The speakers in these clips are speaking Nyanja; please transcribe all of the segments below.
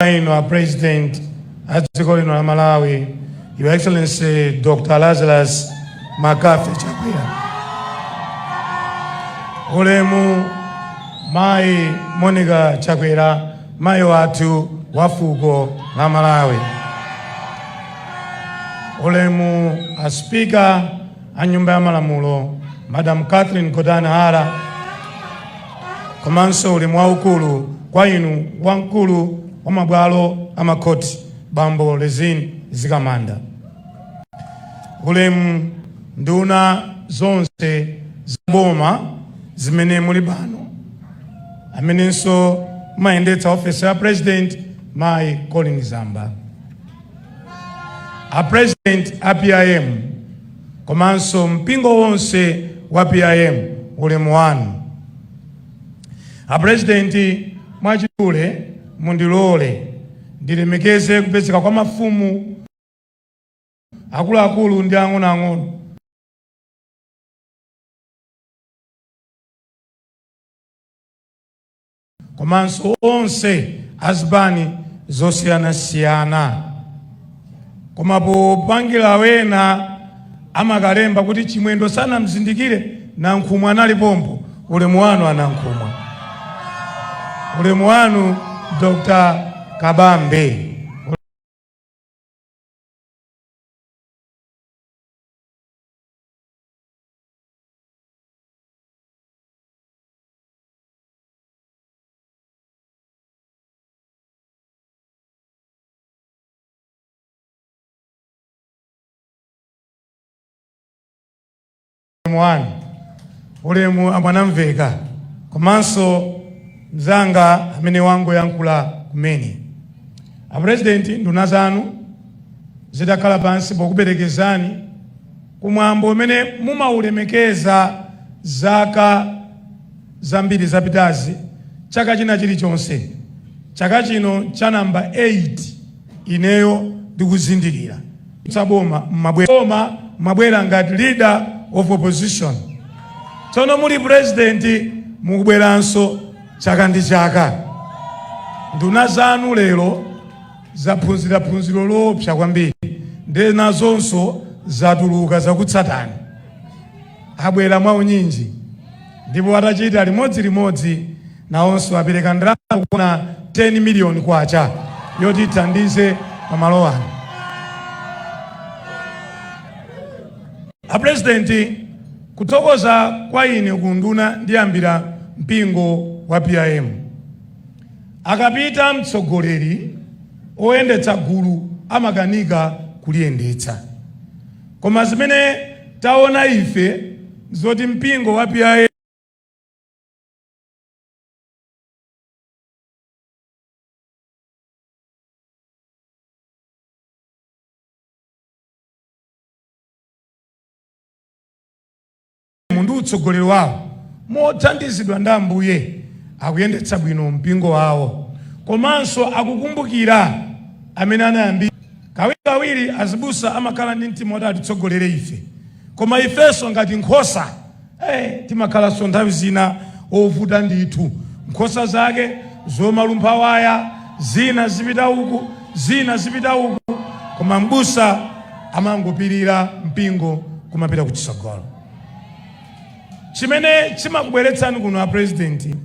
inu a president a dziko lino la malawi your excellency dr lazarus McCarthy chakwera ulemu mayi monica chakwera mayi wathu wa fuko la malawi ulemu a spika a nyumba ya malamulo madam catherine Gotani hara komanso ulemu waukulu kwa inu wamkulu wa mabwalo a makhoti bambo Rizine Mzikamanda, ulemu nduna zonse za boma zimene muli pano, amenenso mumayendetsa ofesi ya president mayi Colleen Zamba, a president a PIM komanso mpingo wonse wa PIM ulemu wanu. Apurezidenti, mwachidule mundilole ndilemekeze kupezeka kwa mafumu akuluakulu ndi ang'onoang'ono komanso onse azipani zosiyanasiyana koma poopa kuti wina amakalemba kuti chimwendo sanamzindikire nankhumwa anali pompo ulemu wanu anankhumwa ulemu wanu dr kabambe wanu ulemu a Mwanamvekha komanso mzanga amene wangoyankhula kumene apurezidenti nduna zanu zitakhala pansi pokuperekezani kumwambo umene mumaulemekeza zaka zambiri zapitazi, chaka china chilichonse, chaka chino cha number 8 ineyo ndikuzindikira musali m'boma mmabwera ngati leader of opposition tsono muli president mukubweranso chaka ndi chaka nduna zanu lero zaphunzira phunziro loopsa kwambiri nde nazonso zatuluka zakutsatani abwera mwaunyinji Ndipo atachita limodzi limodzi nawonso wapereka ndalama zokwana 10 miliyoni kwacha yoti ithandize pa malo ano. A President, kuthokoza kwa ine ku unduna ndiyambira mpingo wa PIM. Akapita mtsogoleri oyendetsa gulu amakanika kuliyendetsa. Koma zimene taona ife nzoti mpingo wa PIM M ndi utsogoleri wawo, mothandizidwa ndi Ambuye, akuyendetsa bwino mpingo wawo komanso akukumbukira amene anayambitsa. Kawirikawiri azibusa amakhala ndi mtima woti atitsogolere ife, koma ifenso ngati nkhosa, ee, timakhalanso nthawi zina ovuta ndithu. Nkhosa zake zomalumpha waya, zina zipita uku, zina zipita uku, koma m'busa. amangopirira mpingo kumapita kuchitsogolo chimene chimakubweretsani kuno a president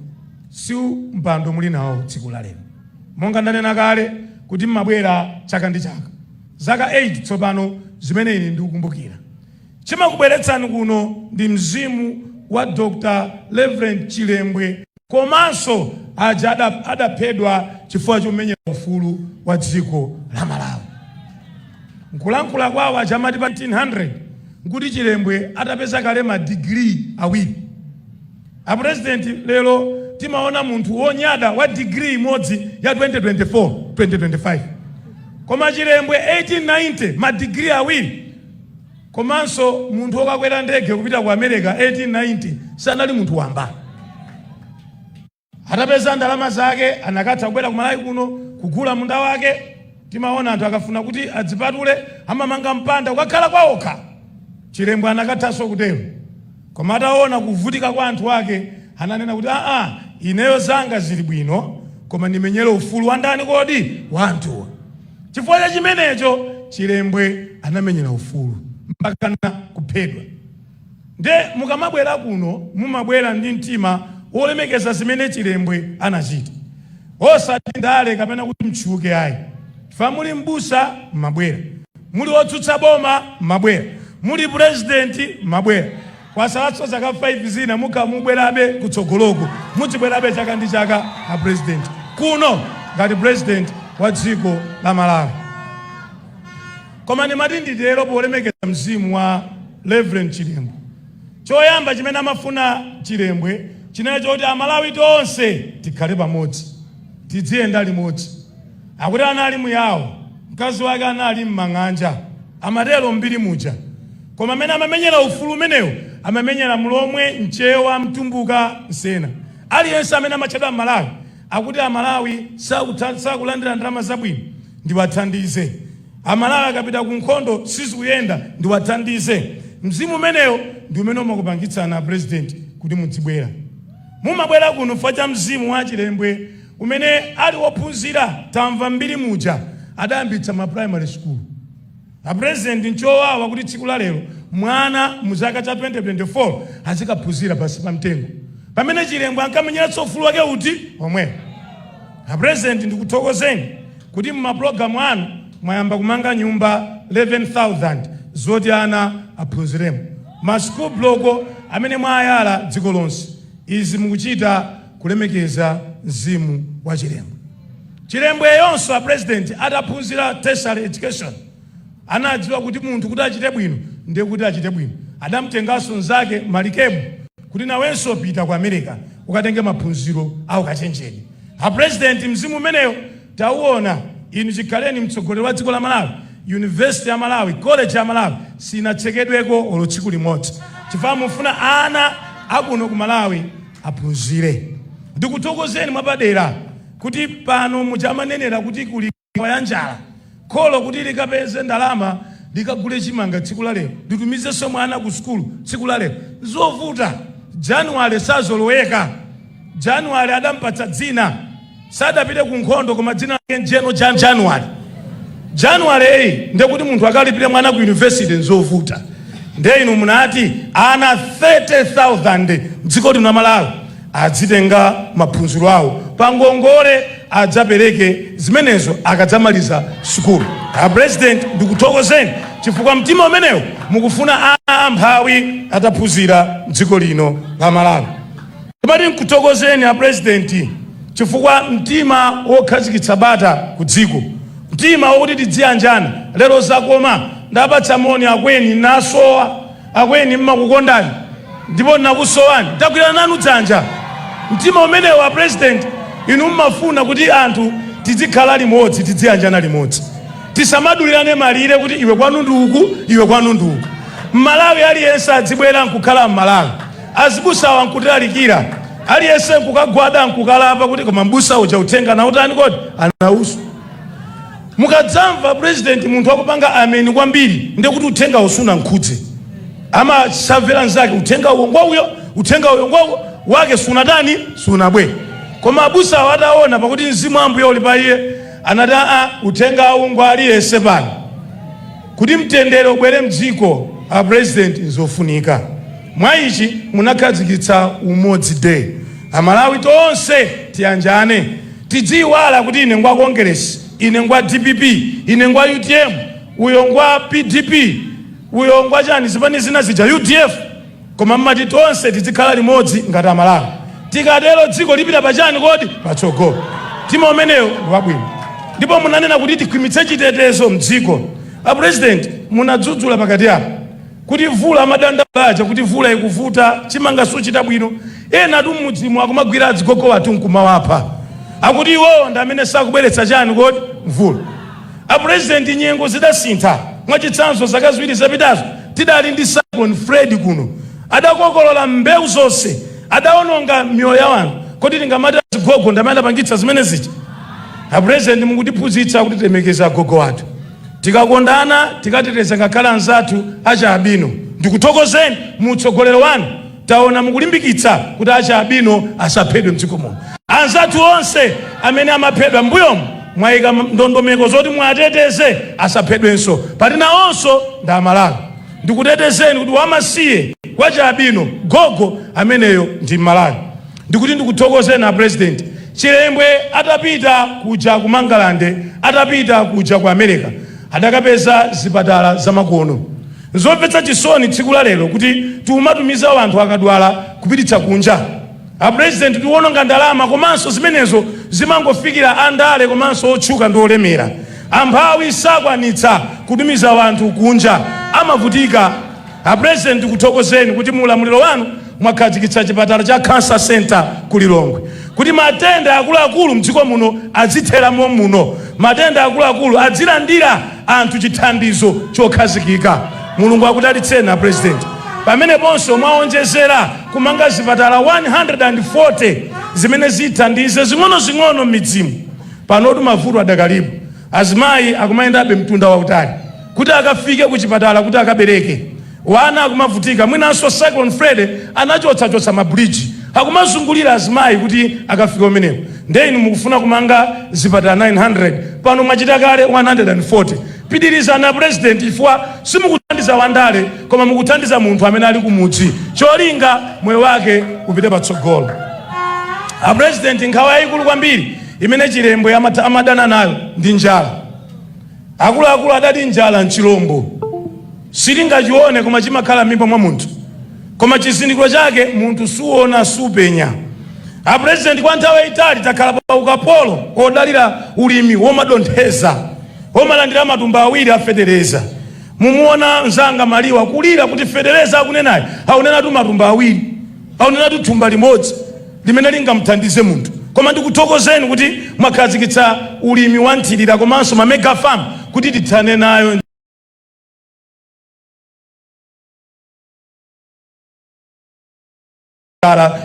si mpando muli nawo tsiku la lero monga ndanena kale kuti mmabwera chaka ndi chaka zaka 8 tsopano zimene ine ndikukumbukira chimakubweretsani kuno ndi mzimu wa dr reverend chilembwe komanso aja adaphedwa chifukwa chomenyera ufulu wa dziko la Malawi. Nkulankhula kwawo aja amati pa 1900 nkuti Chilembwe atapeza kale ma degree awiri. A president lero timaona munthu wonyada wa degree imodzi ya 2024 2025 koma Chilembwe 1890 ma degree awiri Komanso munthu wokakwera ndege kupita ku America 1890 sanali munthu wamba. Atapeza ndalama zake anakatha kubwera ku Malawi kuno kugula munda wake. Timaona anthu akafuna kuti adzipatule amamanga mpanda kukakhala kwaokha. Chilembwe anakathanso kutero. Koma ataona kuvutika kwa anthu ake ananena kuti aa, ineyo zanga zili bwino koma ndimenyere ufulu wa ndani kodi? Wa anthu. Chifukwa cha chimenecho Chilembwe anamenyera ufulu mpakana kuphedwa. Nde mukamabwera kuno mumabwera ndi mtima wolemekeza zimene Chilembwe anachita osati ndale kapena kuti mtchuke ayi. Chifukwa muli m'busa mmabwera, muli otsutsa boma mmabwera, muli pulezidenti mmabwera. Kwasalatso zaka 5 zina mukhala mukubwerabe kutsogoloku mudzibwerabe chaka ndi chaka a president kuno ngati president wa dziko la Malawi. Koma ndimati nditero polemekeza mzimu wa Reverend Chilembwe. Choyamba chimene amafuna Chilembwe chinali choti Amalawi tonse tikhale pamodzi, tidziyenda limodzi. Akuti anali muyawo, mkazi wake anali m'mang'anja, amatero m'mbiri muja. Koma amene amamenyera ufulu umenewo amamenyera mlomwe, mchewa, mtumbuka, msena. Aliyense amene amatchedwa Mmalawi akuti Amalawi sakulandira ndalama zabwino ndiwathandize. Amalawi akapita ku nkhondo sizikuyenda ndiwathandize. Mzimu umenewo ndi umene umakupangitsani a President kuti mudzibwera. Mumabwera kuno chifukwa cha mzimu wa Chilembwe amene anali wophunzira tamva m'mbiri muja adayambitsa ma primary school. A president nchowawa kuti tsiku la lero mwana mu chaka cha 2024 azikaphunzira pansi pa mtengo pamene Chilembwe ankamenyera ufulu wake uti omwe. A president ndikuthokozeni kuti mu mapulogalamu anu mwayamba kumanga nyumba 11,000 zoti ana aphunziremo, ma school block amene mwayala dziko lonse. Izi mukuchita kulemekeza mzimu wa Chilembwe. Chilembweyonso a pulezidenti ataphunzira tertiary education anadziwa kuti munthu kuti achite bwino ndiye kuti achite bwino. Adamtenganso mnzake Malikebu kuti nawenso pita ku America ukatenge maphunziro a ukachenjede. A pulezidenti, mzimu umenewo tauona. Inu chikhaleni mtsogoleri wa dziko la Malawi, yunivesite ya Malawi, koleji ya Malawi sinatsekedweko olo tsiku limodzi chifukwa mufuna ana a kuno ku Malawi aphunzire. Ndikuthokozeni mwapadera kuti pano muja amanenera kuti kuli nkhawa ya njala, kholo kuti likapeze ndalama likagule chimanga tsiku la lero, litumizenso mwana ku sukulu tsiku la lero. Zovuta. January sazoloweka. January adampatsa dzina. sadapite ku nkhondo koma dzina lake ndi General January January yi nde kuti munthu akalipire mwana ku yunivesity nzovuta nde inu munati ana 30000 mdziko lino la malawi adzitenga maphunziro awo pa ngongole adzapereke zimenezo akadzamaliza sukulu a president ndikuthokozeni chifukwa mtima umenewo mukufuna ana amphawi adzaphunzire mdziko lino la malawi Timati nkuthokozeni a president chifukwa mtima wokhazikitsa bata ku dziko, mtima wokuti tidziyanjana lero zakoma. Ndapatsa moni akweni nasowa, akweni mmakukondani ndipo nakusowani tagwirana nanu dzanja. Mtima umenewu a president inu mmafuna kuti anthu tidzikhala limodzi, tidziyanjana limodzi, tisamadulirane malire kuti iwe kwanu ndi uku, iwe kwanu ndi uku. Mmalawi aliyense adzibwera nkukhala mmalawi. azibusawa ankutilalikira aliyense nkukagwada nkukalapa kuti koma mbusa uja uthenga anautani kodi anausu mukadzamva president munthu akupanga ameni kwambiri ndiye kuti uthengawo sunankhudze amasavera nzake uthenga uwo ngwauyo uthenga uyo ngwauyo wake sunatani sunabwe koma abusawo ataona pakuti mzimu wa Ambuye uli pa iye anati aa uthenga uwu ngwa aliyense pano Kuti mtendere ubwere mdziko a president nzofunika. Mwa ichi munakhazikitsa umodzi day. Amalawi tonse tiyanjane. Tidziyiwala kuti ine ngwa Kongeresi, ine ngwa dpp, ine ngwa utm, uyo ngwa pdp, uyo ngwa chani zipani zina zija udf. Koma mmati tonse tidzikhala limodzi ngati amalawi tikatero dziko lipita pachani kodi? Patsogolo. Mtima umenewo ndi wabwino. Ndipo munanena kuti tikhwimitse chitetezo mdziko. A president munadzudzula pakati apa kuti vula amadandaula ija kuti vula ikuvuta, chimanga suchita bwino. Enatu mmidzimu akumagwira adzigogo athu nkumawapha. Akuti iwowo ndi amene sakubweretsa chani kodi? Mvula. A President nyengo zidasintha, mwachitsanzo zaka ziwiri zapitazo tidali ndi Cyclone Freddy kuno, adakokolola mbewu zonse, adaononga miyoyo ya anthu, kodi tingamati azigogo ndamene adapangitsa zimene zija? A President mukutiphunzitsa kuti tilemekeze agogo athu, tikakondana, tikateteza ngakhale anzathu achi albino. Ndikuthokozeni mu utsogoleri wanu. Taona mukulimbikitsa kuti achi albino asaphedwe mdziko muno. Anzathu onse amene amaphedwa mmbuyomu mwaika ndondomeko zoti muwateteze asaphedwenso pati nawonso ndi aMalawi. Ndikutetezeni kuti wamasiye, wachi albino, gogo ameneyo ndi mMalawi. Ndikuti ndikuthokozeni a President. Chilembwe atapita kuja ku Mangalande, atapita kuja ku America adakapeza zipatala zamakono. Nzomvetsa chisoni tsiku la lero kuti tiumatumiza wanthu akadwala kupititsa kunja. A president tiuononga ndalama komanso zimenezo zimangofikira a ndale komanso otchuka ndi olemera. Amphawi sakwanitsa kutumiza wanthu kunja amavutika. A president tikuthokozeni kuti mu ulamuliro wanu mwakhazikitsa chipatala cha Cancer Centre ku Lilongwe kuti matenda akuluakulu mdziko muno adzithera mommuno. Matenda akuluakulu adzilandira. anthu chithandizo chokhazikika. Mulungu akudalitseni a President. Pameneponso mwaonjezera kumanga zipatala 140 zimene zithandize zing'onozing'ono m'midzimu. Panotu mavuto adakalipo, azimayi akumayendabe mtunda wautali kuti akafike ku chipatala kuti akabereke. Wana akumavutika mwinanso Cyclone Freddy anachotsachotsa ma bridge akumazungulira azimayi kuti akafike kumeneko nde inu mukufuna kumanga zipatala 900 pano mwachita kale 140 pitirizani a president chifukwa simukuthandiza wandale koma mukuthandiza munthu amene ali kumudzi cholinga moyo wake upite patsogolo a president nkhawa yayikulu kwambiri imene chilembwe amadana nayo ndi njala akuluakulu adati njala nchilombo Silingachione koma chimakhala m'mimba mwa munthu koma chizindikiro chake munthu suona supenya. A President kwa nthawi yayitali takhala pa ukapolo odalira ulimi womadontheza omalandira matumba awiri a feteleza. Mumuona mzanga Maliwa kulira kuti feteleza akunenayi aunenatu matumba awiri aunenatu thumba limodzi limene lingamuthandize munthu. Koma ndikuthokozeni kuti mwakhazikitsa ulimi wa nthirira komanso ma mega farm kuti tithane nayo.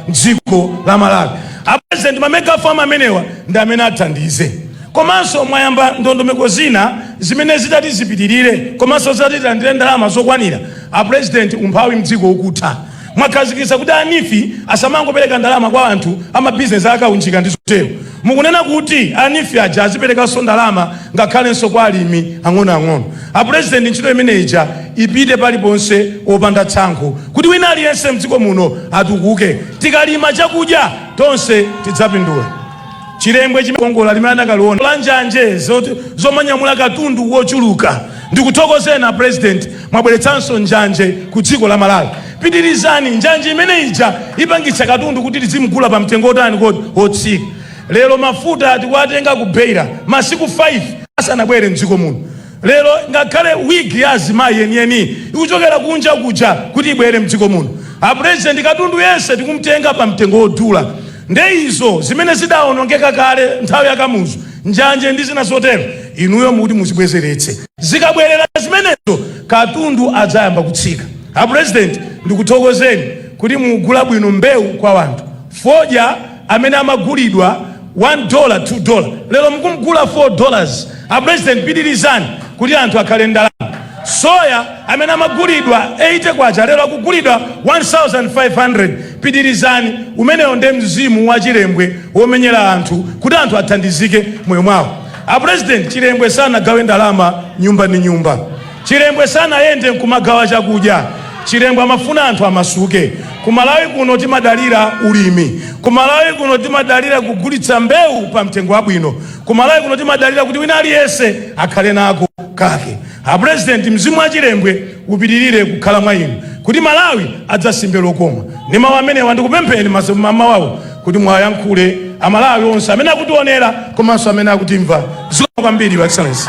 mdziko la Malawi apresident mamega farm amenewa ndi amene athandize komanso mwayamba ndondomeko zina zimene zitati zipitirire komanso zitatilandire ndalama zokwanira apresident umphawi mdziko ukutha Mwakhazikitsa kuti a NEEF asamangopereka ndalama kwa anthu a mabizinesi a kaunjika ndi zotero. Mukunena kuti a NEEF aja aziperekanso ndalama ngakhalenso kwa alimi ang'onoang'ono. A Pulezidenti ntchito imene ija ipite paliponse opanda tsankho kuti wina aliyense mdziko muno atukuke. Tikalima chakudya tonse tidzapindula. Chilembwe chimakongola limene anakaliona la njanje zomanyamula katundu wochuluka. Ndikuthokozeni a President, mwabweretsanso njanje ku dziko la Malawi. Pitirizani, njanje imene ija ipangitsa katundu kuti tizimgula pa mtengo wotani wotsika. Lero mafuta tikuwatenga ku Beira masiku 5 asanabwere m'dziko muno. Lero ngakhale wig ya azimayi yeniyeni ikuchokera kunja kuja kuti ibwere mdziko muno. A president katundu yense tikumtenga pa mtengo wodula. Nde izo zimene zidaonongeka kale nthawi ya Kamuzu, njanje ndi zina zotero, inuyo mukuti muzibwezeretse. Zikabwerera zimenezo katundu adzayamba kutsika. A president ndikuthokozeni kuti mukugula bwino mbewu kwa wanthu. Fodya amene amagulidwa 1 dola 2 dola lero mukumgula 4 dollars a president pitirizani kuti anthu akhale ndalama soya amene amagulidwa 80 kwacha lero akugulidwa 1500 pitirizani umenewo nde mzimu wa chilembwe womenyera anthu kuti anthu athandizike moyo mwawo a president chilembwe sanagawe ndalama nyumba ndi nyumba Chilembwe sanayende nkumagawa chakudya. Chilembwe amafuna anthu amasuke. Ku Malawi kuno timadalira ulimi. Ku Malawi kuno timadalira kugulitsa mbewu pa mtengo wabwino. Ku Malawi kuno timadalira kuti wina aliyense akhale nako kake. A President, mzimu wa Chilembwe upitirire kukhala mwa inu kuti Malawi adzasimbe lokoma. Ndi mawu amenewa ndikupempheni m'mamawawu kuti muwayankhule amalawi onse amene akutionera komanso amene akutimva zikomo kwambiri your excellency